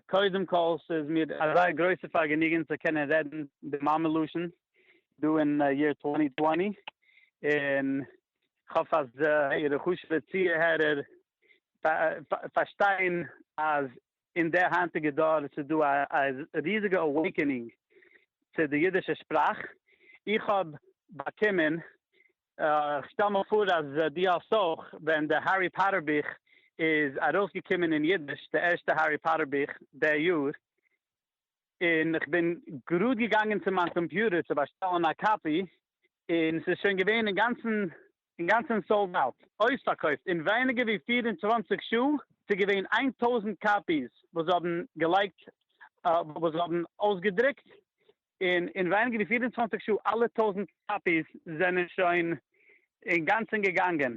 קודם כל ס'איז מיר א זייער גרויסע פארגעניגען צו קענען רעדן די מאמע לשון דא אין יער טווענטי טווענטי, און כ'האף אז אירע חשוב'ע צוהערער פארשטייען אז אין די היינטיגע דור ס'איז דא א ריזיגע אוועיקענינג צו די אידישע שפראך, איך האב באקומען איך שטעל מיר פאר אז דו האסט אויך, ווען די הערי פאטער בוך איז ארויסגעקומען אין אידיש, די ערשטע הערי פאטער בוך די יאר, און איך בין גראד געגאנגען צו מיין קאמפיוטער צו באשטעלן א קאפי, און ס'איז שוין געווען אינגאנצן סאלד אוט, אויספארקויפט, אין ווייניגער ווי פֿיר און צוואַנציק שעה, ס'איז געווען איין טויזנט קאפיס וואס זיי האבן געלייגט, וואס זיי האבן אויסגעדרוקט, און אין ווייניגער ווי פֿיר און צוואַנציק שעה אלע טויזנט קאפיס זענען שוין אינגאנצן געגאנגען.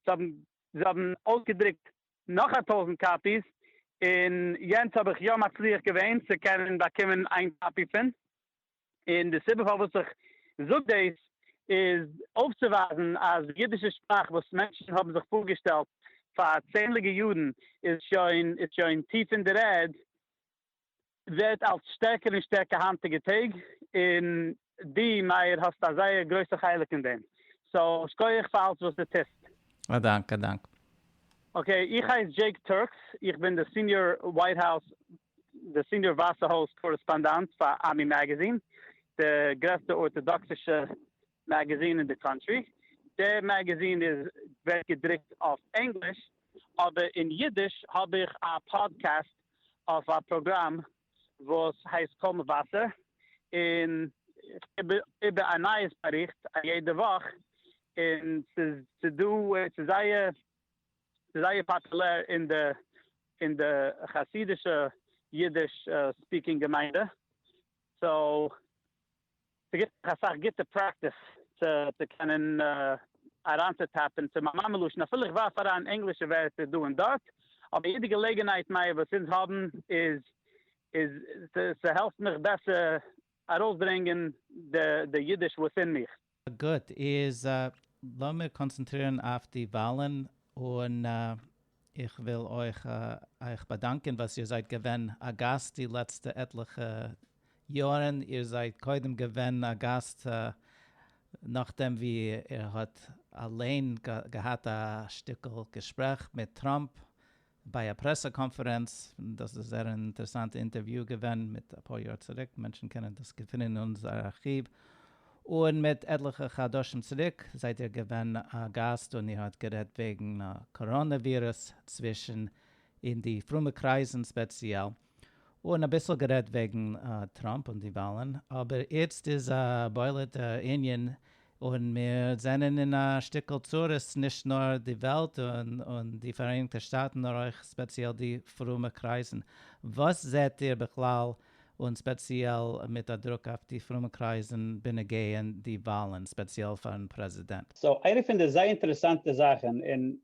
זיי האבן אויסגעדרוקט נאך א טויזנט קאפיס, און יענץ האב איך יא מצליח געווען צו קענען באקומען איין קאפי פון. און די סיבה פארוואס איך זאג דאס איז אויפצוווייזן אז די אידישע שפראך וואס מענטשן האבן זיך פארגעשטעלט פאר צענדליגע יארן איז שוין טיף אין דער ערד, ווערט אלץ שטערקער און שטערקער היינטיגע טעג, און דו מאיר האסט א זייער גרויסע חלק אין דעם, סאו שקויעך פאר אלץ וואס דו טוסט. א דאנק, א דאנק. אקעי, איך הייס דזשעיק טורקס, איך בין די סיניאר ווייט האוז, די סיניאר ווייסע הויז קארעספאנדאנט פאר עמי מעגעזין, די גרעסטע ארטאדאקסישע מעגעזין אין די קאנטרי, די מעגעזין איז ווערט געדרוקט אויף ענגליש, אבער אין אידיש האב איך א פאדקעסט אויף א פראגראם וואס הייסט קול מבשר, און איך גיב איבער א נייעס באריכט א יעדע וואך, און ס'איז ס'דא ס'איז זייער ס'איז זייער פאפולער אין די אין די חסידישע אידיש ספיקינג געמיינדע, סאו. ס'גיט דאך אסאך גוטע פרעקטיס צו קענען אריינצוטאפן צו מיין מאמע לשון, אפילו איך ווארף אריין ענגלישע ווערטער דא און דארט, אבער יעדע געלעגנהייט נייע וואס אונז האבן איז איז ס'העלפט מיך בעסער ארויסברענגען די אידיש וואס אין מיך. גוט, איז לאמיר קאנצענטרירן אויף די וואלן, און איך וויל אויך אייך באדאנקען וואס איר זייט געווען א גאסט די לעצטע עטליכע יארן, איר זייט קודם געווען א גאסט נאכדעם ווי איר האט אליין געהאט א שטיקל געשפרעך מיט טראמפ, ביי א פרעסע קאנפערענץ, דאס איז א זייער אינטערעסאנטע אינטערוויו געווען מיט אפאר יאר צוריק, מענטשן קענען דאס געפינען אין אונזער ארכיוו, און מיט עטליכע חדשים צוריק זייט איר געווען א גאסט און איר האט גערעדט וועגן קאראנע ווירוס צווישן אין די פרומע קרייזן ספעציעל, און אביסל גערעדט וועגן טראמפ און די וואלן, אבער איצט איז א בולעט ענין און מיר זענען אין א שטיקל צרות נישט נאר די וועלט און די פאראייניגטע שטאטן נאר אויך ספעציעל די פרומע קרייזן, וואס זעהט איר בכלל און ספעציעל מיט א דרוק אויף די פרומע קרייזן בנוגע די וואלן ספעציעל פארן פרעזידענט? סאו איינע פון די זייער אינטערעסאנטע זאכן און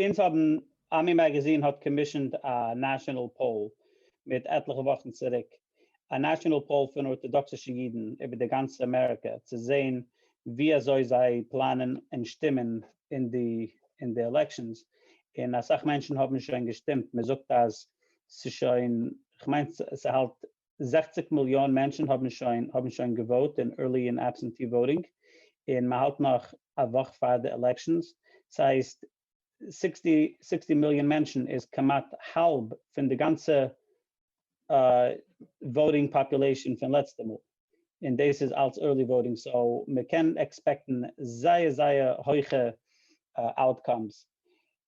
אונז האבן, עמי מאגאזין האט קאמישענד א נעשאנעל פאול מיט עטליכע וואכן צוריק, א נעשאנעל פאול פון ארטאדאקסישע אידן איבער די גאנצע אמעריקע, צו זען ווי אזוי זיי פלאנען און שטימען אין די אין די עלעקשאנס, און אסאך מענטשן האבן שוין געשטימט, מען זאגט אז ס'שוין, כ'מיין ס'האלט זעכציק מיליאן מענטשן האבן שוין האבן שוין געוואוט אין ערלי און עבסענטי וואוטינג און מען האלט נאך א וואך פאר די עלעקשאנס ס'הייסט סיקסטי סיקסטי מיליאן מענטשן איז כמעט האלב פון די גאנצע וואוטינג פאפולעישאן פון לעצטע מאל און דאס איז אלס ערלי וואוטינג סאו מען קען עקספעקטן זייער זייער הויכע אוטקאמס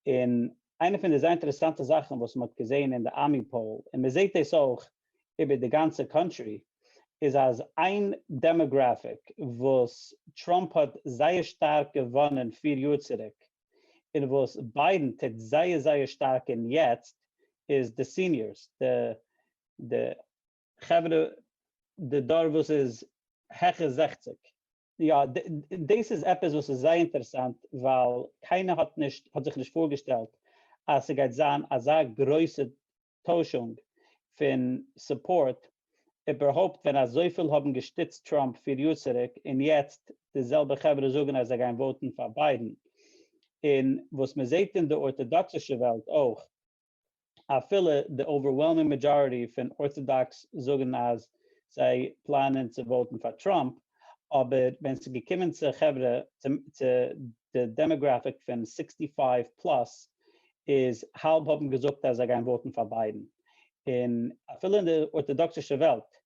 און איינע פון די זייער אינטערעסאנטע זאכן וואס מ'האט געזען אין די ארמי פאול, און מ'זעט דאס אויך איבער די גאנצע קאנטרי, איז אז איין דעמאגראפיק וואס טראמפ האט זייער שטארק געוואנען פיר יאר צוריק, און וואס ביידן טוט זייער זייער שטארק אין יעצט, איז די סיניארס, די די חברה, די דור וואס איז העכער זעכציג. יא, דאס איז עפעס וואס איז זייער אינטערעסאנט, ווייל קיינער האט נישט האט זיך נישט פארגעשטעלט אז ס'גייט זיין אזא גרויסע טוישונג פון סופארט, איבערהויפט ווען אזויפיל האבן געשטיצט טראמפ פיר יאר צוריק און יעצט די זעלבע חברה זאגן אז זיי גייען וואוטן פאר ביידן, און וואס מ'זעט אין די ארטאדאקסישע וועלט אויך. אפילו די אווערוועלמינג מעדזשאריטי פון ארטאדאקס זאגן אז זיי פלאנען צו וואוטן פאר טראמפ, אבער ווען ס'איז געקומען צו חברה, צו די דעמאגראפיק פון סיקסטי פייוו פלאס, איז האלב האבן געזאגט אז זיי גייען וואוטן פאר ביידן. און אפילו אין די ארטאדאקסישע וועלט,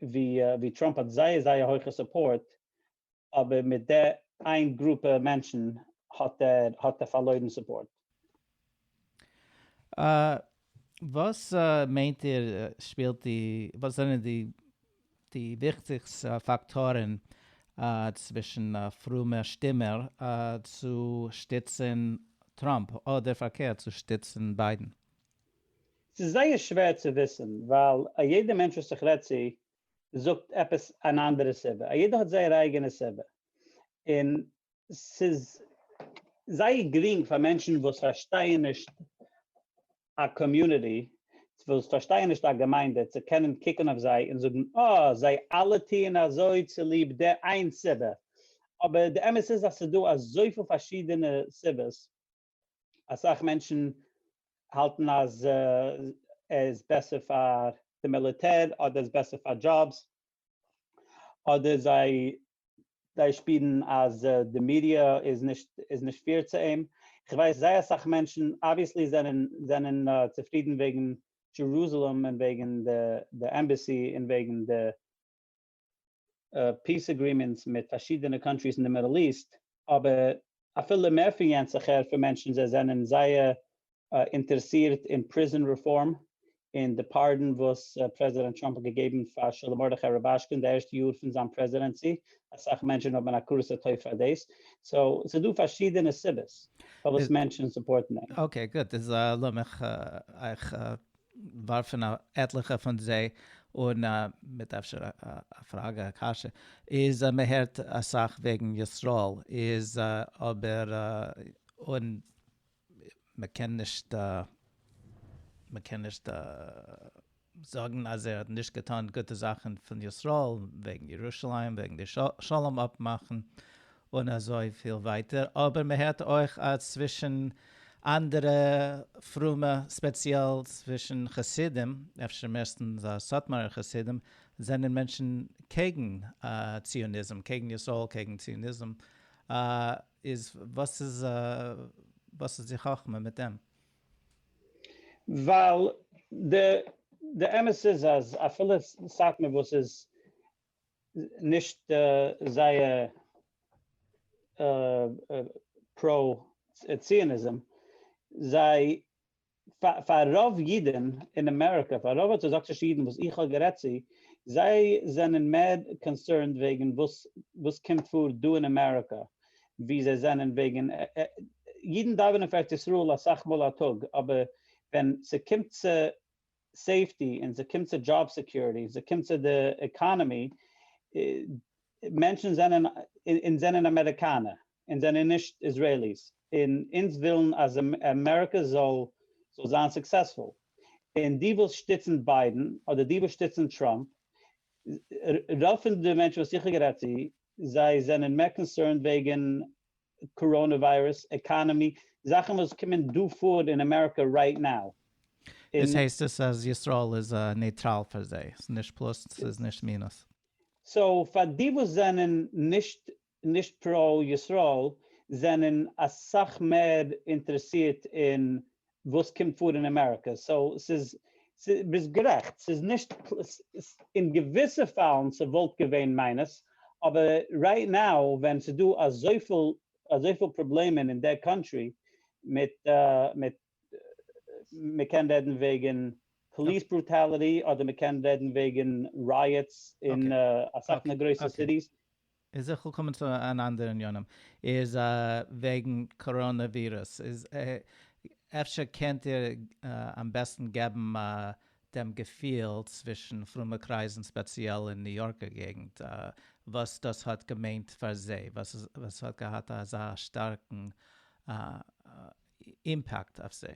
ווי טראמפ האט זייער זייער הויכע סופארט, אבער מיט די איין גרופע מענטשן האט ער האט ער פארלוירן סופארט. וואס מיינט איר שפילט די וואס זענען די די וויכטיגסט פאקטארן צווישן פרומע שטימער צו שטיצן טראמפ אדער פארקערט צו שטיצן ביידן? ס'איז זייער שווער צו וויסן ווייל א יעדע מענטש וואס איך רעד צו זאגט עפעס אן אנדערע סיבה, א יעדער האט זייער אייגענע סיבה, און ס'איז זייער גרינג פאר מענטשן וואס פארשטייען נישט א קאמיוניטי, וואס פארשטייען נישט א געמיינדע, צו קענען קוקן אויף זיי און זאגן אה, זיי אלע טוען אזוי צוליב די איין סיבה, אבער די אמת איז אז ס'איז דא אזויפיל פארשידענע סיבות, אסאך מענטשן האלטן אז עס איז בעסער פאר די מיליטער אדער עס איז בעסער פאר דזשאבס אדער זיי זיי שפירן אז די מידיע איז נישט איז נישט פעיר צו אים, איך ווייס זייער אסאך מענטשן אבוויעסלי זענען זענען צופרידן וועגן דזשערוזעלעם און וועגן די עמבעסי און וועגן די פיס אגרימענטס מיט פארשידענע קאנטריס אין די מידל איסט, אבער אפילו מער פון יענץ איך הער פון מענטשן זיי זענען זייער אינטערעסירט אין פריזאן רעפארם און די פארדאן וואס פרעזידענט טראמפ האט געגעבן פאר שלום מרדכי רובאשקין אין די ערשטע יאר פון זיין פרעזידענסי, אסאך מענטשן האבן הכרת הטוב פאר דאס, סאו ס'איז דא פארשידענע סיבות פארוואס מענטשן סופארטן אים. אקעי גוט, איז לאמיך אייך ווארפן א עטליכע פון זיי אן מיט אפשר א פראגע א קשיא, איז מען הערט אסאך וועגן ישראל איז אבער און מען קען נישט מען קען נישט זאגן אז ער האט נישט געטון גוטע זאכן פון ישראל וועגן ירושלים וועגן די שלום אפמאכן און אזוי פיל ווייטער, אבער מען הערט אויך אז צווישן אנדערע פרומע ספעציעל צווישן חסידים, אפשר מערסטנס סאטמארער חסידים, זענען מענטשן קעגן ציוניזם, קעגן ישראל, קעגן ציוניזם, איז וואס איז וואס איז די חכמה מיט דעם? ווייל די אמת איז אז אפילו סאטמאר וואס איז נישט זייער פרא ציוניזם, זיי פאר רוב אידען אין אמעריקא, פאר רוב ארטאדאקסישע אידען וואס איך האב גערעדט צו, זיי זענען מער קאנסערנד וועגען וואס וואס קומט פאר דא אין אמעריקא, ווי זיי זענען וועגען, אידען דאווענען פאר ארץ ישראל אסאך מאל א טאג, אבער ווען ס'קומט צו סעיפטי און ס'קומט צו דזשאב סעקיוריטי און ס'קומט צו די עקאנעמי, מענטשן זענען, אונז זענען אמעריקאנער, אונז זענען נישט איזרעיליס, און אונז ווילן אז אמעריקע זאל זיין סוקסעספול, און די וואס שטיצן ביידן אדער די וואס שטיצן טראמפ, רוב פון די מענטשן וואס איך האב גערעדט צו, זיי זענען מער קאנסערנד וועגן קאראנע וויירוס, עקאנעמי, זאכן וואס קומען דא פאר אין אמעריקא רייט נאו. איז הייסט עס אז ישראל איז נייטראל פאר זיי? ס'איז נישט פלאס ס'איז נישט מינוס? סאו פאר די וואס זענען נישט נישט פראו ישראל זענען אסאך מער אינטערעסירט אין וואס קומט פאר אין אמעריקע, סאו ס'איז, ביסט גערעכט, ס'איז נישט, אין געוויסע פאלן ס'וואלט געווען מיינוס, אבער רייט נאו ווען ס'איז דא אזויפיל אזויפיל פראבלעמען אין דער קאנטרי מיט מיט מ'קען רעדן וועגן פאליס ברוטאליטי אדער מ'קען רעדן וועגן רייעטס אין אסאך פון די גרויסע סיטיס, איז איך וויל קומען צו אן אנדערע עניינים איז וועגן קאראנע ווירוס איז אפשר קענט איר אמבעסטן געבן דעם געפיל צווישן פרומע קרייזן ספעציעל אין ניו יארקער געגנט וואס דאס האט געמיינט פאר זיי וואס ס'האט געהאט אזא שטארקן אימפעקט אויף זיי.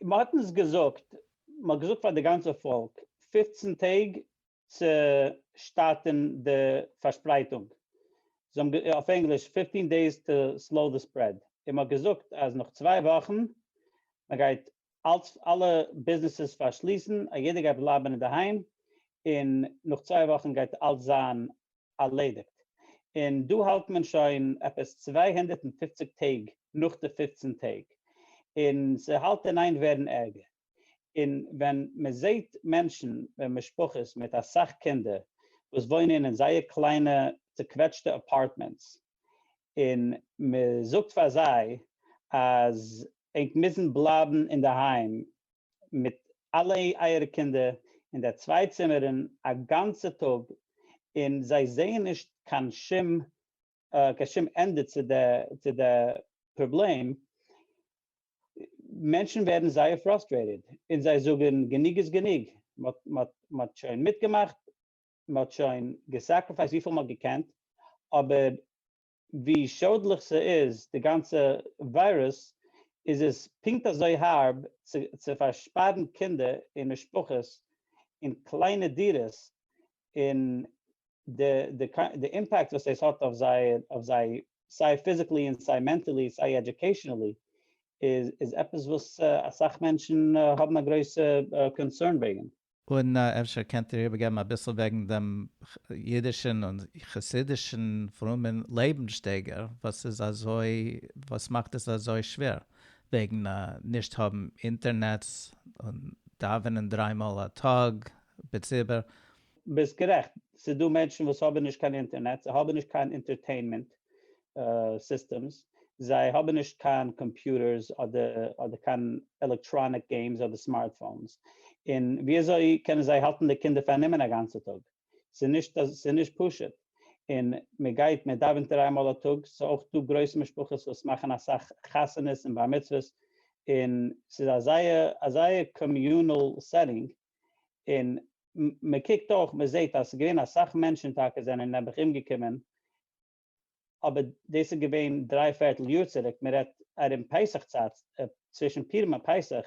מען האט אונז געזאגט, מען האט געזאגט פאר די גאנצע פאלק, פֿופֿצן טעג צו שטארטען די פארשפרייטונג, אויף ענגליש, fifteen days to slow the spread, און מען האט געזאגט אז נאך צוויי וואכן מען גייט אלץ אלע ביזנעסעס פארשליסן, א יעדער גייט בלייבען אינדערהיים, און נאך צוויי וואכן גייט אלץ זיין ארלעדיגט, און דא האלט מען שוין עפעס צוויי הונדערט און פופציג טעג נאך די פופצן טעג, און ס'האלט אין איין ווערן ערגער. און ווען מען זעהט מענטשן און משפחות מיט אסאך קינדער וואס וואוינען אין זייער קליינע צוקוועטשטע אפארטמענטס און מען זאגט פאר זיי אז ענק מוזן בלייבן אינדערהיים מיט אלע אייערע קינדער אין די צוויי צימערן א גאנצע טאג און זיי זעהן נישט קיין שום קיין שום ענדע צו די פראבלעם, מענטשן ווערן זייער פראסטרעיטעד און זיי זאגן גענוג איז גענוג, מען האט שוין מיטגעמאכט, מען האט שוין געסעקריפייסט וויפיל מען האט געקענט, אבער ווי שאדליך ס'איז די גאנצע וויירוס, איז עס פונקט אזוי הארב צו פארשפארן קינדער און משפחות אין קליינע דירות און די די די אימפעקט וואס דאס האט אויף זיי אויף זיי סיי פיזיקלי און סיי מענטעלי סיי עדיוקעישענעלי איז איז עפעס וואס אסאך מענטשן האבן א גרויסע קאנסערן וועגן. און אפשר קענט איר איבערגעבן אביסל וועגן דעם אידישן און חסידישן פרומען לעבן שטייגער וואס איז אזוי וואס מאכט עס אזוי שווער וועגן נישט האבן אינטערנעץ און דאווענען דריי מאל א טאג בציבור ביסט גערעכט, ס'איז דא מענטשן וואס האבן נישט קיין אינטערנעט, זיי האבן נישט קיין אינטערטעינמענט סיסטעמס, זיי האבן נישט קיין קאמפיוטערס אדער קיין עלעקטראניק געימס אדער סמארטפאונס, און ווי אזוי קענען זיי האלטן די קינדער פארנומען א גאנצע טאג? ס'איז נישט פשוט, און מען גייט מען דאווענט דריי מאל א טאג, ס'איז אויך דא גרויס משפחות וואס מאכן אסאך חתונות און בר מצוות, און ס'איז א זייער א זייער קאמיונעל סעטינג, און מען קוקט אויך מען זעט אז ס'איז געווען אסאך מענטשן טאקע זענען נעבעך אומגעקומען, אבער דאס איז געווען דריי פערטל יאר צוריק, מען רעדט ארום פסח צייט, צווישן פורים און פסח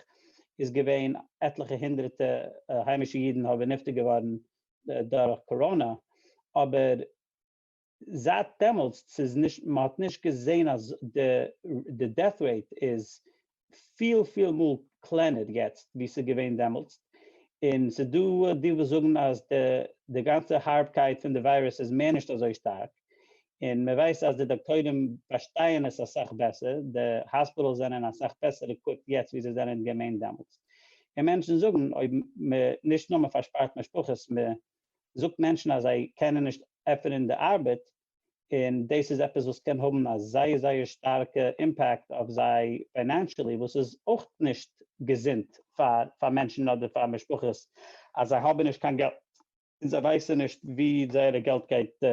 איז געווען עטליכע הונדרעטע היימישע אידן האבן נפטר געווארן דורך קאראנא, אבער זייט דעמאלטס ס'איז נישט מ'האט נישט געזעהן אז די דעט רעיט איז פיל פיל מאל קלענער יעצט ווי ס'איז געווען דעמאלטס, און ס'איז דא די וואס זאגן אז די גאנצע הארבקייט פון די וויירוס איז מער נישט אזוי שטארק, און מ'ווייסט אז די דאקטוירים פארשטייען עס אסאך בעסער, די האספיטעלס זענען אסאך בעסער עקוויפט יעצט ווי זיי זענען געווען דעמאלטס, און מענטשן זאגן אויב מ'נישט נאר מ'פארשפארט משפחות, מ'האט זאגט מענטשן אז זיי קענען נישט עפענען די ארבעט און דאס איז עפעס וואס קען האבן א זייער זייער שטארקע אימפעקט אויף זיי פיינענשעלי וואס איז אויך נישט געזונט פאר פאר מענטשן אדער פאר משפחות אז זיי האבן נישט קיין געלט און זיי ווייסן נישט ווי זייערע געלט גייט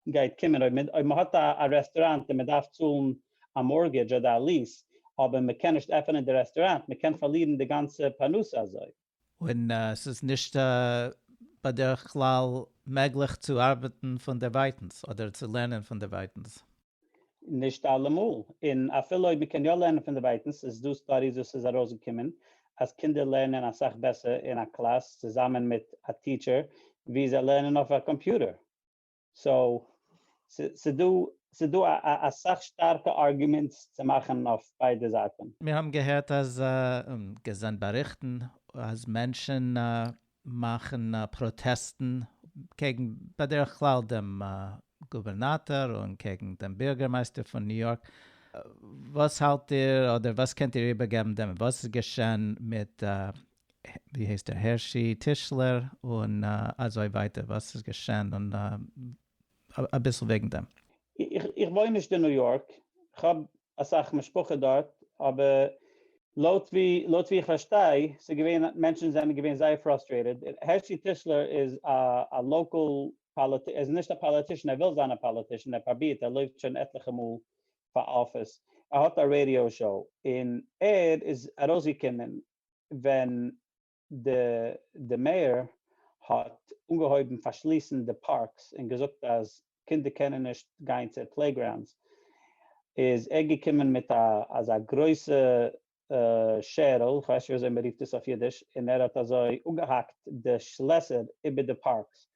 גייט קומען אויב מען אויב מען האט א א רעסטוראנט און מען דארף צאלן א מארגעדזש אדער א ליעס אבער מען קען נישט עפענען די רעסטוראנט מען קען פארלירן די גאנצע פרנסה אזוי. און עס איז נישט בדרך כלל מעגליך צו ארבעטן פונדערווייטנס אדער צו לערנען פונדערווייטנס. נישט אלעמאל, און אפילו אויב מ'קען יא לערנען פונדערווייטנס, איז דא סטאדיס וואס איז ארויסגעקומען אז קינדער לערנען אסאך בעסער אין א קלאס צוזאמען מיט א טיטשער ווי זיי לערנען אויף א קאמפיוטער. סאו ס'דא אסאך שטארקע ארגומענטס צו מאכן אויף ביידע זייטן. מיר האבן געהערט אז, און געזען באריכטן, אז מענטשן מאכן פראטעסטן קעגן בדרך כלל דעם גובערנאטאר און קעגן דעם בירגערמייסטער פון ניו יארק. וואס האלט איר, אדער וואס קענט איר איבערגעבן דעם, וואס איז געשען מיט ווי הייסט ער הערשי טישלער און אזוי ווייטער וואס איז געשען און אביסל וועגן דעם. איך וואוין נישט אין ניו יארק, כ'האב אסאך משפחה דארט, אבער לויט ווי איך פארשטיי ס'איז געווען מענטשן זענען געווען זייער פראסטרעיטעד, הערשי טישלער איז א לאקעל פאליטישאן, ער איז נישט א פאליטישאן, ער וויל זיין א פאליטישאן, ער פראבירט, ער לויפט שוין עטליכע מאל פאר אפיס, ער האט א רעדיא שאו, און ער איז ארויסגעקומען ווען די מעיאר האט אנגעהויבן פארשליסן די פארקס און געזאגט אז קינדער קענען נישט גיין צו פלעיגראונדס איז ער געקומען מיט אזא גרויסע שערל, איך ווייס נישט וויאזוי מען רופט עס אויף אידיש, און ער האט אזוי אפגעהאקט די שלעסער איבער די פארקס,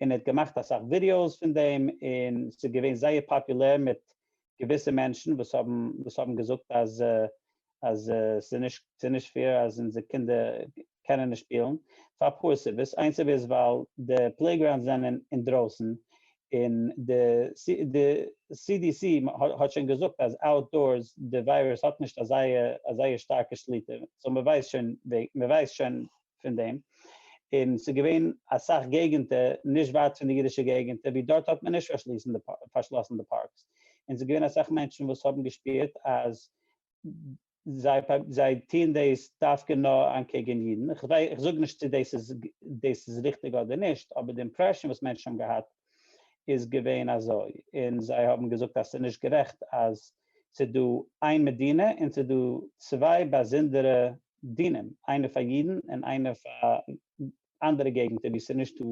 און ער האט געמאכט אסאך ווידיאוס פון דעם, און ס'איז געווען זייער פאפולער מיט געוויסע מענטשן וואס האבן וואס האבן געזאגט אז אז ס'איז נישט ס'איז נישט פעיר אז אונזער קינדער קענען נישט שפילן, פאר אפאר סיבות, איין סיבה איז ווייל די פלעיגראונדס זענען אינדרויסן, און די די סי די סי האט שוין געזאגט אז אוט דארס די וויירוס האט נישט אזא אזא שטארקע שליטה, סאו מ'ווייסט שוין מ'ווייסט שוין פון דעם, און ס'איז געווען אסאך געגענטער נישט ווייט פון די אידישע געגענטער ווי דארט האט מען נישט פארשלאסן די פארקס, און ס'איז געווען אסאך מענטשן וואס האבן געשפירט אז זיי טוען דאס דווקא נאר אנטקעגן אידן, איך זאג נישט צו דאס איז ריכטיג אדער נישט, אבער די אימפרעשאן וואס מענטשן האבן געהאט איז געווען אזוי, און זיי האבן געזאגט אז ס'איז נישט גערעכט אז ס'איז דא איין מדינה און ס'איז דא צוויי באזונדערע דינים, איינער פאר אידן און איינער פאר אנדערע געגנטער ווי ס'איז נישטא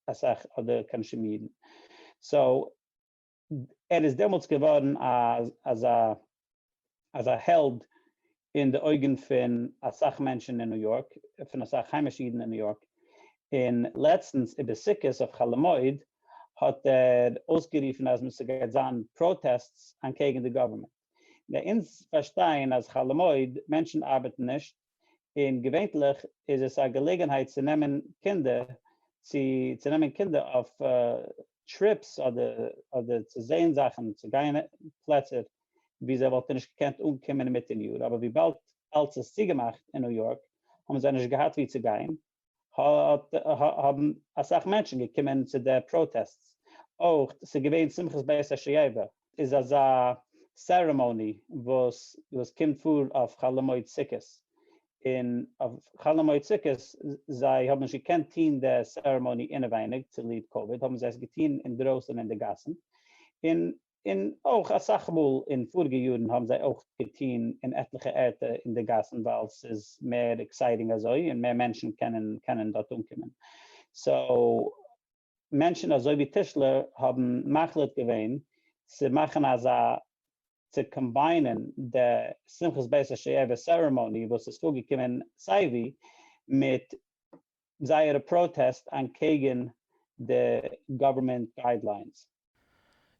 אסאך אדער קיין שום אידן, סאו ער איז דעמאלטס געווארן אזא אזא העלד אין די אויגן פון אסאך מענטשן אין ניו יארק, פון אסאך היימישע אידן אין ניו יארק, און לעצטנס איבער סוכות אויף חול המועד האט ער אויסגערופן אז מ'ס'גייט זיין פראטעסטס אנקעגן די גאווערמענט. געשעפט. ביי אונז פארשטייען אז חול המועד מענטשן ארבעטן נישט, און געווענטליך איז עס א געלעגענהייט צו נעמען קינדער צו צו נעמען קינדער אויף טריפס אדער אדער צו זעהן זאכן צו גיין פלעצער ווי זיי וואלטן נישט געקענט אנקומען אינמיטן יאר אבער וויבאלד אלץ איז צוגעמאכט אין ניו יארק האבן זיי נישט געהאט ווי צו גיין האבן אסאך מענטשן געקומען צו די פראטעסטס, אויך ס'איז געווען שמחת בית השואבה, איז אזא סערעמאני וואס וואס קומט פאר אויף חול המועד סוכות, און אויף חול המועד סוכות זיי האבן נישט געקענט טוהן די סערעמאני אינעווייניג צוליב קאוויד האבן זיי עס געטוהן אינדרויסן אין די גאסן, און און אויך אסאך מאל אין פאריגע יארן האבן זיי אויך געטון אין עטליכע ערטער אין די גאסן ווייל ס'איז מער עקסייטינג אזוי און מער מענטשן קענען קענען דארט אנקומען סאו מענטשן אזוי ווי טישלער האבן מחליט געווען צו מאכן אזא צו קאמביינען די שמחת בית השואבה סערעמאני וואס איז פארגעקומען סייווי מיט זייערע פראטעסט אנטקעגן די גאווערמענט גיידליינס.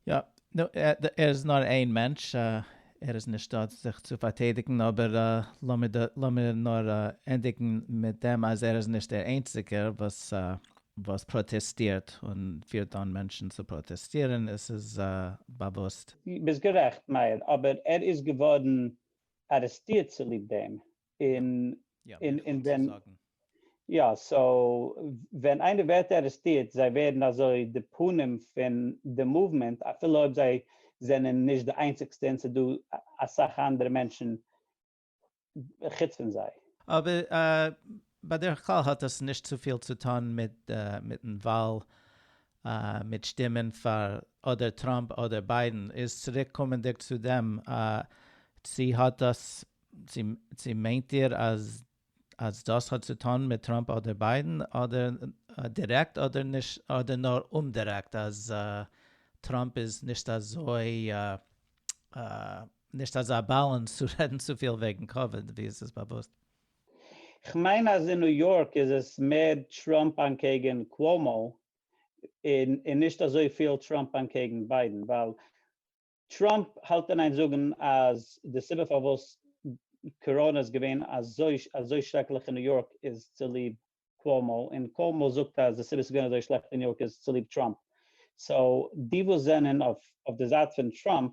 יא, נו, ער איז נאר איין מענטש, ער איז נישט דא זיך צו פארטיידיגן, אבער לאמיר נאר ענדיגן מיט דעם אז ער איז נישט דער איינציגער וואס פראטעסטירט און פירט אן מענטשן צו פראטעסטירן, עס איז באוואוסט. ביסט גערעכט מאיר, אבער ער איז געווארן ארעסטירט צוליב דעם, און און ווען יא סאו ווען איינער ווערט ארעסטירט זיי ווערן אזוי די פנים פון די מאוומענט אפילו אויב זיי זענען נישט די איינציגסטע און ס'דא אסאך אנדערע מענטשן חוץ פון זיי. אבער בדרך כלל האט דאס נישט צופיל צו טון מיטן וואל מיט שטימען פאר אדער טראמפ אדער ביידען איז צוריק קומענדיג צו דעם צו האט דאס צו מיינט איר אז אז דאס האט צו טון מיט טראמפ אדער ביידען אדער דירעקט אדער נישט אדער נאר אומדירעקט אז טראמפ איז נישט אזוי נישט אזא באלאנס צו רעדן צופיל וועגן קאוויד ווי עס איז באוואוסט? כ'מיין אז אין ניו יארק איז עס מער טראמפ אנקעגן קוואומאו און נישט אזויפיל טראמפ אנקעגן ביידען ווייל טראמפ האלט און איין זאגן אז די סיבה פארוואס קאראנע איז געווען אזוי אזוי שרעקליך אין ניו יארק איז צוליב קואמאו און קואמאו זאגט אז די סיבה ס'איז געווען אזוי שלעכט אין ניו יארק איז צוליב טראמפ סאו די וואס זענען אויף די זייט פון טראמפ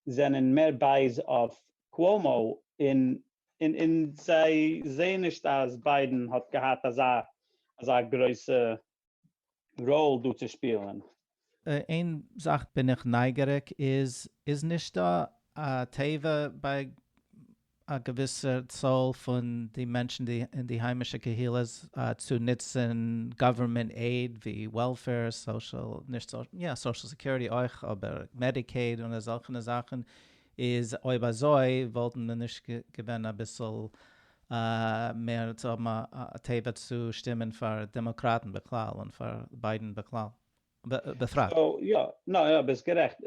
זענען מער בייז אויף קואמאו און און זיי זעען נישט אז ביידען האט געהאט אזא אזא גרויסע ראול דא צו שפילען. איין זאך בין איך נייגעריג איז, איז נישט דא א תיבה ביי א געוויסע צאל פון די מענטשן אין די היימישע קהילות צו נוצן גאווערמענט עיד ווי וועלפעיר, סאושעל, נישט סאושעל, יא סאושעל סעקיוריטי אויך אבער מעדיקעיד און אזעלכענע זאכן, איז אויב אזוי וואלטן מען נישט געווען אביסל מער צו האבן א טבע צו שטימען פאר דעמאקראטן בכלל און פאר ביידן בכלל בפרט. יא, ניין אבער ביסט גערעכט,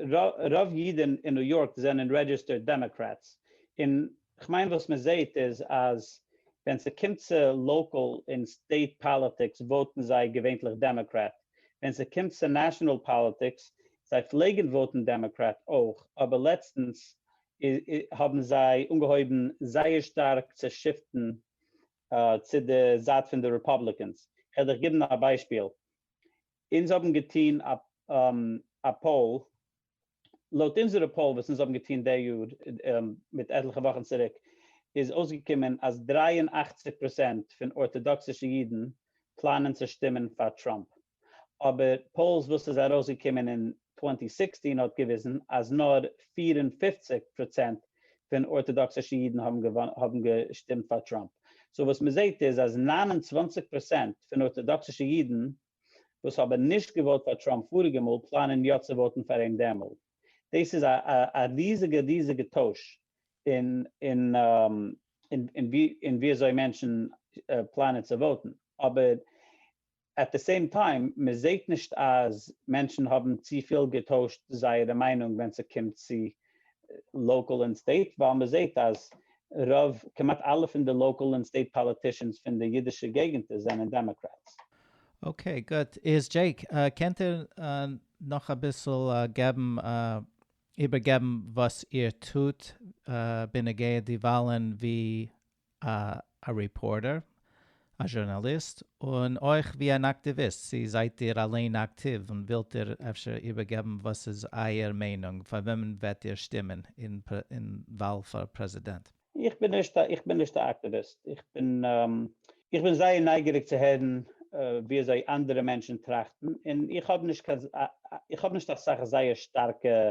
רוב אידן אין ניו יארק זענען רעדזשיסטערד דעמאקרעטס, און כ'מיין וואס מ'זעהט איז אז ווען ס'קומט צו לאקאל און סטעיט פאליטיקס וואוטן זיי געווענטליך דעמאקרעט, ווען ס'קומט צו נעשאנעל פאליטיקס זיי פלעגן וואוטן דעמאקרעט אויך אבער לעצטנס האבן זיי אנגעהויבן זייער שטארק צו שיפטן צו די זייט פון די רעפאבליקענס, כ'וועל דיך גיבן א ביישפיל, אונז האבן געטון א פאול, לויט אונזערע פאול וואס אונז האבן געטון די יאר מיט עטליכע וואכן צוריק, איז אויסגעקומען אז דרײַ און אַכציק פראצענט פון ארטאדאקסישע אידן פלאנען צו שטימען פאר טראמפ. אבער פאולס וואס איז ארויסגעקומען אין טווענטי סיקסטין האט געוויזן אז נאר פֿיר און פֿופֿציק פראצענט פון ארטאדאקסישע אידן האבן געשטימט פאר טראמפ, סאו וואס מען זעט איז אז נײַן און צוואַנציק פראצענט פון ארטאדאקסישע אידן וואס האבן נישט געוואוט פאר טראמפ פאריגע מאל פלאנען יא צו וואוטן פאר אים דעמאלט, דאס איז א ריזיגע ריזיגע טויש אין ווי אזוי מענטשן פלאנען צו וואוטן, אבער עט די סעים טיים, מען זעהט נישט אז מענטשן האבן צופיל געטוישט זייערע מיינונג ווען ס'קומט צו לאקאל און סטעיט, ווייל מען זעהט אז רוב, כמעט אלע פון די לאקאל און סטעיט פאליטישאנס פון די אידישע געגענטער זענען דעמאקרעטס. אקעי גוט, איז דזשעיק קענט איר נאך אביסל געבן איבערגעבן וואס איר טוט בנוגע די וואלן ווי א רעפארטער, א זשורנאליסט, און אויך ווי אן אקטיוויסט, צו זייט איר אליין אקטיוו און ווילט איר אפשר איבערגעבן וואס איז אייער מיינונג פאר וועמען וועט איר שטימען אין וואל פאר פרעזידענט? איך בין נישט א איך בין נישט א אקטיוויסט, איך בין איך בין זייער נייגעריג צו הערן ווי אזוי אנדערע מענטשן טראכטן, און איך האב נישט קיין איך האב נישט אסאך זייער שטארקע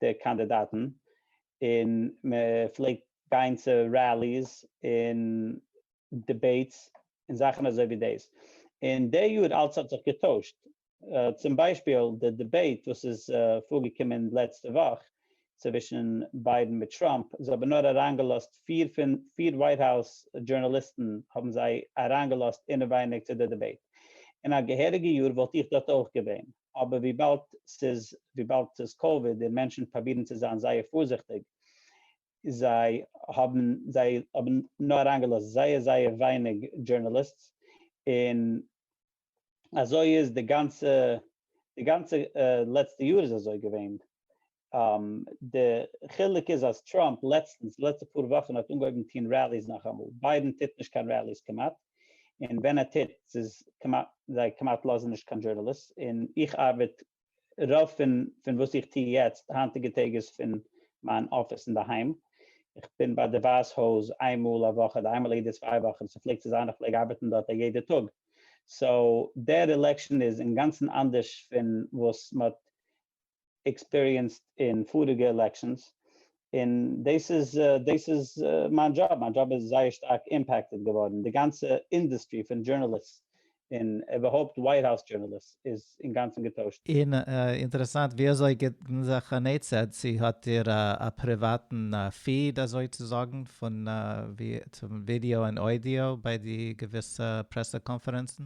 די קאנדידאטן און מען פלעגט גיין צו ראליס און דיבעיטס און זאכן אזוי ווי דאס, און די יאר אלס האט זיך געטוישט, צום ביישפיל די דיבעיט וואס איז פארגעקומען לעצטע וואך צווישן ביידן מיט טראמפ, זיי האבן נאר אריינגעלאזט פיר פון פיר ווייט האוז דזשורנאליסטן האבן זיי אריינגעלאזט אינעווייניג צו די דיבעיט, אין א געהעריגע יאר וואלט איך דארט אויך געווען. אבער וויבאלד ס'איז וויבאלד ס'איז קאוויד און מענטשן פראבירן צו זיין זייער פארזיכטיג, זיי האבן זיי האבן נאר אריינגעלאזט זייער זייער ווייניג דזשורנאליסטס, און אזוי איז די גאנצע די גאנצע לעצטע יאר איז אזוי געווען, די חילוק איז אז טראמפ לעצטנס, די לעצטע פאר וואכן, האט אנגעהויבן טוהן ראליס נאכאמאל, ביידן טוט נישט קיין ראליס כמעט, און ווען ער טוט ס'איז כמעט, זיי כמעט לאזן נישט קיין דזשורנאליסט, און איך ארבעט, רוב פון פון וואס איך טוה יעצט היינטיגע טעג איז פון מיין אפיס אינדערהיים, איך בין ביי די ווייס הויז איין מאל א וואך אדער איין מאל יעדע צוויי וואכן, ס'פלעגט צו זיין איך פלעג ארבעטן דארט א יעדע טאג, סאו דער עלעקשאן איז אינגאנצן אנדערש פון וואס מ'האט עקספיריענסד אין פאריגע עלעקשאנס, און דאס איז דאס איז מיין דזשאב, מיין דזשאב איז זייער שטארק אימפעקטעד געווארן, די גאנצע אינדוסטרי פון דזשורנאליסט און איבערהויפט ווייט האוז דזשורנאליסט איז אינגאנצן געטוישט. און אינטערעסאנט ווי אזוי געבן זיך אן עצה, צו האט איר א פריוואטן פיד אזוי צו זאגן פון ווי צו ווידעא און אודיאו ביי די געוויסע פרעסע קאנפערענצן?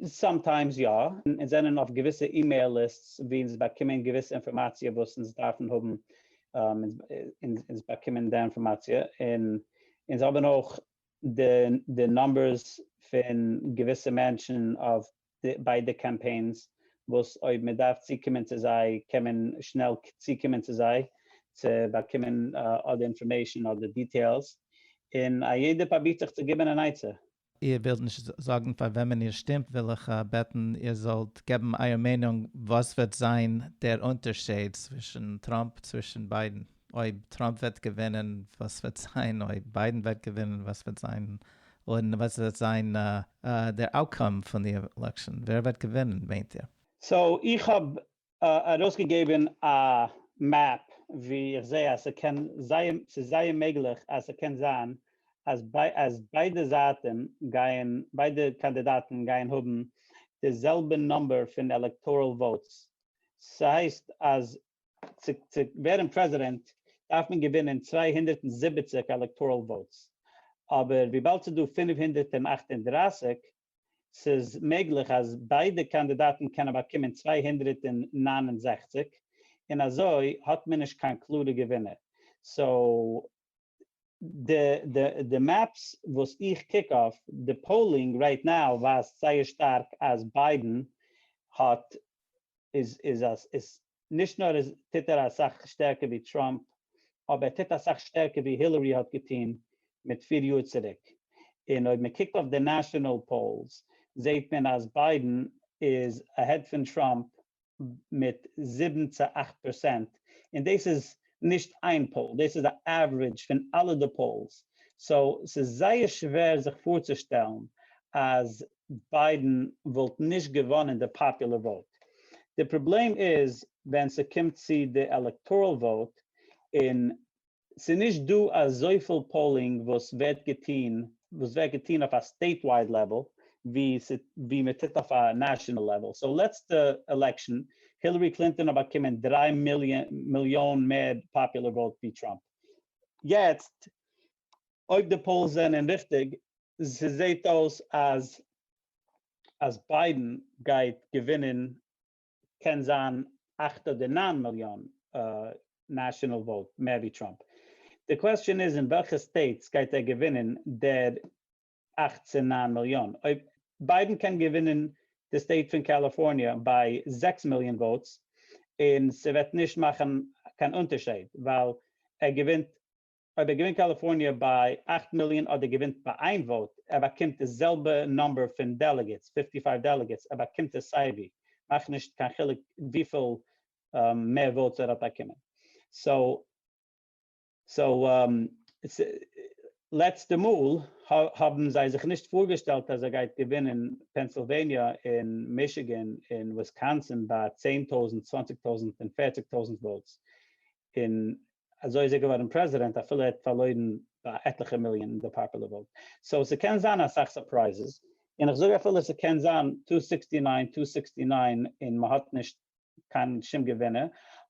סאמטיימס יא, אונז זענען אויף געוויסע אימעיל ליסטס ווי אונז באקומען געוויסע אינפארמאציע וואס אונז דארפן האבן, אונז באקומען די אינפארמאציע און אונז האבן אויך די נומבערס פון געוויסע מענטשן ביי די קאמפיינס וואס אויב מען דארף צוקומען צו זיי קען מען שנעל צוקומען צו זיי צו באקומען אדער אינפארמעישן אדער דיטעילס, און א יעדער פרובירט זיך צו גיבן אן עצה. איר ווילט נישט זאגן פאר וועמען איר שטימט וויל איך בעטן איר זאלט געבן אייער מיינונג וואס וועט זיין דער אונטערשעיד צווישן טראמפ צווישן ביידן אויב טראמפ וועט געווינען וואס וועט זיין אויב ביידן וועט געווינען וואס וועט זיין און וואס וועט זיין דער אוטקאם פון די עלעקשאן ווער וועט געווינען מיינט איר? סאו איך האב ארויסגעגעבן א מעפ ווי איך זע אז ס'קען זייער ס'איז זייער מעגליך אז ס'קען זיין אז אז ביידע זייטען גייען ביידע קאנדידאטן גייען האבן די זעלבע נומבער פון עלעקטארעל וואוטס ס'הייסט אז צו צו ווערן פרעזידענט דארף מען געווינען צוויי הונדערט און זיבעציק עלעקטארעל וואוטס אבער וויבאלד ס'איז דא פֿינף הונדערט אַכט און דרײַסיק ס'איז מעגליך אז ביידע קאנדידאטן קענען באקומען צוויי הונדערט און נײַן און זעכציק און אזוי האט מען נישט קיין קלארע געווינער, סאו די מעפס וואס איך קוק אויף, די פאולינג רייט נאו ווייזט זייער שטארק אז ביידען האט איז נישט נאר איז טוט ער אסאך שטערקער ווי טראמפ, אבער ער טוט אסאך שטערקער ווי הילערי האט געטון מיט פיר יאר צוריק, און אויב מען קוקט אויף די נעשאנעל פאולס זעהט מען אז ביידען איז אהעד פון טראמפ מיט זיבן צו אכט פערסענט, און דאס איז נישט איין פאול, דאס איז א עוורידזש פון אלע די פאולס, סאו ס'איז זייער שווער זיך פארצושטעלן אז ביידן וואלט נישט געוואנען די פאפולער וואוט, די פראבלעם איז ווען ס'קומט צו די עלעקטארעל וואוט און ס'נישט דא אזויפיל פאולינג וואס ווערט געטון וואס ווערט געטון אויף א סטעיט ווייד לעוועל ווי מ'טוט אויף א נעשענעל לעוועל, סאו לעצטע עלעקשאן הילערי קלינטאן האט באקומען דרײַ מיליאן מער פאפולער וואוט ווי טראמפ, יעצט אויב די פאולס זענען ריכטיג, ס'זעהט אויס אז אז ביידען גייט געווינען קען זיין אַכט אדער נײַן מיליאן נעשאנעל וואוט מער ווי טראמפ. די קוועסטשען איז אין וועלכע סטעיטס גייט ער געווינען דער אַכט צו נײַן מיליאן. אויב ביידען קען געווינען די סטעיט פון קאליפארניע ביי זעקס מיליאן וואוטס, און ס'וועט נישט מאכן קיין אונטערשייד ווייל ער געווינט אויב ער געווינט קאליפארניע ביי אַכט מיליאן אדער געווינט ביי איין וואוט, ער באקומט די זעלבע נאמבער פון דעלעגעטס, פֿופֿטי פֿייוו דעלעגעטס, ער באקומט עס סייווי, מאכט נישט קיין חילוק וויפיל מער וואוטס ער האט באקומען. סאו לעצטע מאל האבן זיי זיך נישט פארגעשטעלט אז ער גייט געווינען פענסילוועניע און מישיגען און וויסקאנסין ביי צען טויזנט, צוואנציג טויזנט און פערציג טויזנט וואוטס, און אזוי איז ער געווארן פרעזידענט אפילו ער האט פארלוירן ביי עטליכע מיליאן אין די פאפולער וואוט. סאו ס'קען זיין אסאך סורפרייזעס, און איך זאג אפילו ס'קען זיין טו סיקסטי ניין טו סיקסטי ניין און מ'האט נישט קיין שום געווינער,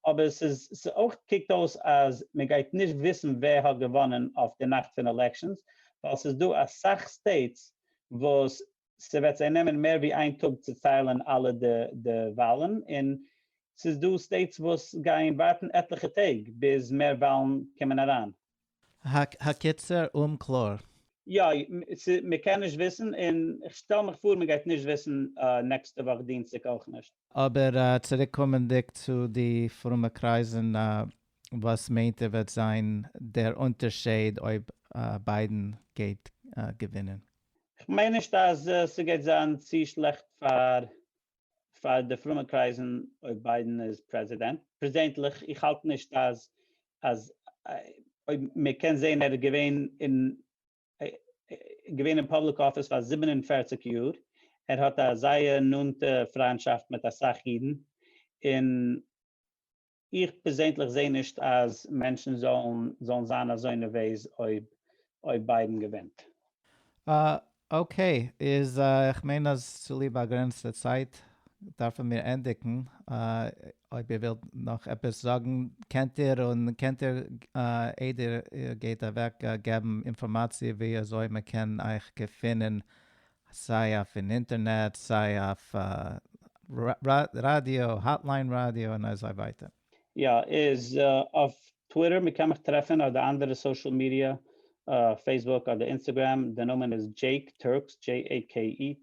אבער ס'איז ס'אויך קוקט אויס אז מ'גייט נישט וויסן ווער האט געוואנען אויף די נאכט פון עלעקשאנס, ווייל ס'איז דא אסאך סטעיטס וואס ס'וועט זיי נעמען מער ווי איין טאג צו ציילן אלע די וואלן, און ס'איז דא סטעיטס וואס גייען ווארטן עטליכע טעג ביז מער וואלן קומען אריין. הקיצור אומקלאר. יא, מ'קען נישט וויסן, און כ'שטעל מיך פאר מ'גייט נישט וויסן נעקסטע וואך דינסטאג אויך נישט. אבער צוריק קומענדיג צו די פרומע קרייזן, וואס מיינט איר וועט זיין דער אונטערשייד אויב ביידן גייט געווינען? כ'מיין נישט אז ס'גייט זיין צו שלעכט פאר פאר די פרומע קרייזן אויב ביידן איז פרעזידענט. פרעזענטליך איך האלט נישט אז אז אויב מען קען זעהן ער איז געווען אין געווען אין פאבליק אפיס פאר זיבן און פֿערציק יאר, ער האט א זייער נאנטע פריינטשאפט מיט אסאך אידן, און. איך פערזענדליך זעה נישט אז מענטשן זאלן זאלן זיין אזוי נערוועז אויב אויב ביידן געווינט. אקעי, איז איך מיין אז צוליב באגרענצטע צייט דארפן מיר ענדיגן, אויב איר ווילט נאך עפעס זאגן קענט איר, און קענט איר איידער איר גייט אוועק געבן אינפארמאציע ווי אזוי מען קען אייך געפינען סיי אויף אין אינטערנעט, סיי אויף ראדיא, האטליין ראדיא און אזוי ווייטער. יא, איז אויף טוויטער, מ'קען מיך טרעפן אדער אנדערע סאושעל מידיע, פעיסבוק אדער אינסטעגרעם, די נאמען איז דזשעיק טורקס, JAKETURX,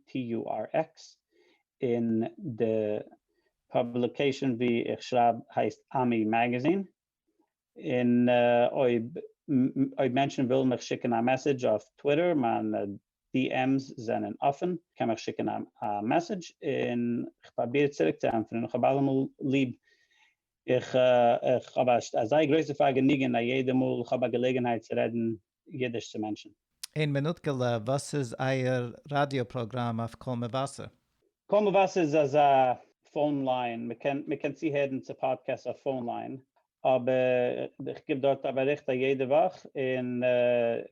און די פאבליקעישאן וואו איך שרייב הייסט עמי מעגעזין. און אויב אויב מענטשן ווילן מיך שיקן א מעסעדזש אויף טוויטער מיינע די עם'ס זענען אפען, קען מיך שיקן א מעסעדזש און כ'פראביר צוריק צו ענטפערן און כ'האב אלעמאל ליב איך איך האב א זייער גרויסע פארגעניגען א יעדע מאל כ'האב א געלעגענהייט צו רעדן אידיש צו מענטשן. אין מינוטקעלע, וואס איז אייער ראדיא פראגראם אויף קול מבשר? קול מבשר איז אזא פאון ליין, מ'קען מ'קען צוהערן צו פאדקעסט אויף פאון ליין, אבער איך גיב דארט א באריכט א יעדע וואך אין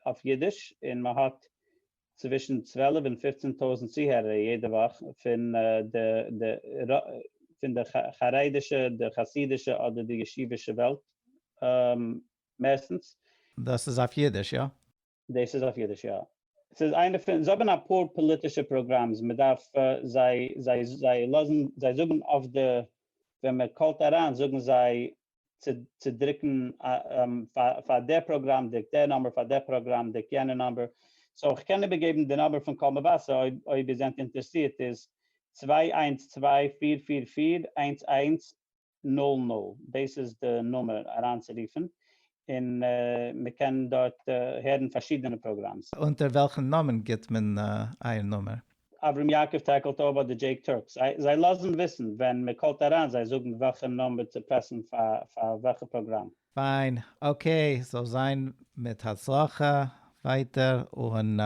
אויף אידיש, און מ'האט צווישן צוועלף און פופצן טויזנט צוהערער יעדע וואך פון די די פון די חרדישע די חסידישע אדער די ישיבישע וועלט. מערסטנס. דאס איז אויף אידיש, יא? דאס איז אויף אידיש, יא. ס'איז איינע פון, זיי האבן אפאר פאליטישע פראגראמס, מען דארף זיי, זיי, זיי לאזן, זיי זאגן אויף די, ווען מען קאלט אריין זאגן זיי צו צו דרוקן פאר דער פראגראם דרוק דער נומבער, פאר דער פראגראם דרוק יענע נומבער, סאו כ'קען איבערגעבן די נומבער פון קול מבשר אויב אויב איר זענט אינטערעסירט איז צוויי איינס צוויי פֿיר פֿיר פֿיר איינס איינס נאל נאל, דאס איז די נומער אריינצורופן, און מען קען דארט הערן פארשידענע פראגראמס. אונטער וועלכן נאמען גיבט מען אייער נומער? אברהם יעקב טעקלט אויב אדער דזשעיק טורקס, זיי לאזן וויסן ווען מען קאלט אריין, זיי זאגן וועלכע נומבער צו פרעסן פאר וועלכע פראגראם. פיין, אקעי, זאל זיין מיט הצלחה ווייטער און.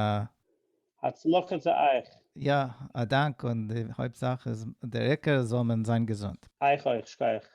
הצלחה צו אייך! יא, א דאנק, און די הויפט זאך איז, דער עיקר זאל מען זיין געזונט. אייך אויך, שכח.